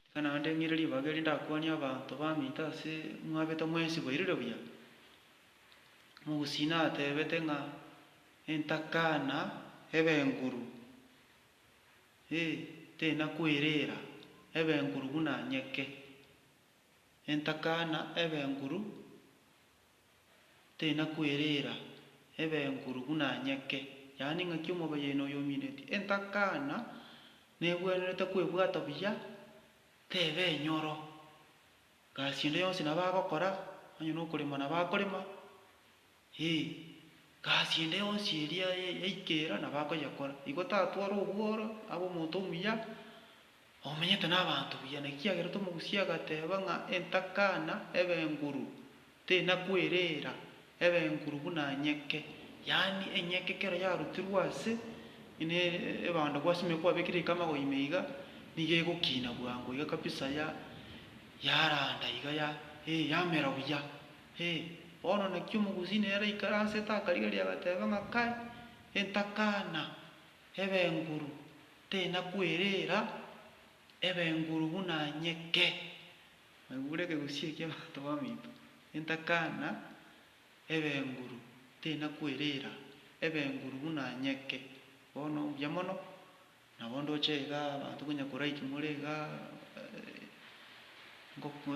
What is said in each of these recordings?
Iga naende ndeng'ire ribaga eri ndakwanie abanto bamite ase mwabete mwensi bairire buya. Omogusii natebete ng'a entakana ebe enguru, ee, tenakwereera ebe enguru buna nyeke, entakana ebe enguru Tinakwereera ebe enkuru buna nyeke, yaani ng'aki omobayaino oyo omineti. Entakana negwenerete kwebwata buya, tebe enyoro. Gasi ende yonsi nabo agokora, onye nokorema nabo akorema, ee, gasi ende yonsi eria yaikera nabo akoyekora. Igo tatware obworo abe omonto omuya, Omenyete nabaanto buya, nekiagera tomogusie agateeba ng'a entakana ebenguru tenakwereera ebenguru buna enyeke, yaani enyeke ekero yarutirwe ase ne ebando gwasimirie kwabekire iko amagoima iga, nigo egokina bwango iga kabisa ya yaranda iga ya eh yamera buya eh. Bono naki omogusi nere aikare asete akarigereria agateeba ng'a kai entakana. Ebenguru tenakwerera, ebenguru buna nyeke. Naigure ekegusii ekia abanto baminto, entakana, ebenguru tenakwerera, ebenguru buna nyeke. Bono mbuya mono, nabo ndoche igaa abanto konya korike more igaa ngoko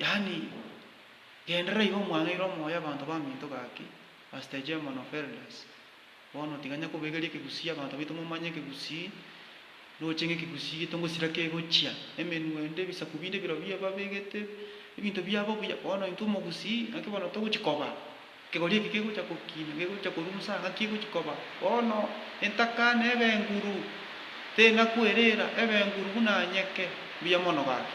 yaani genderera iga omwang'eire omoyo abanto baminto gaki as the chairman of elders. Bono tiga nyakobegeria ekegusii abanto baito momanye ekegusii roche ng'ekegusii gito ngosira kegochia, emenwa ende, ebisaku binde birobio babegete ebinto biabo obuya. Bono intwe omogusii naki bono togochia koba, ekegori eke kegochia gokina, gegochia korusa ng'aki egochia koba. Bono entaka na ebenguru teri nakweriira, ebenguru buna nyeke, mbuya mono gaki.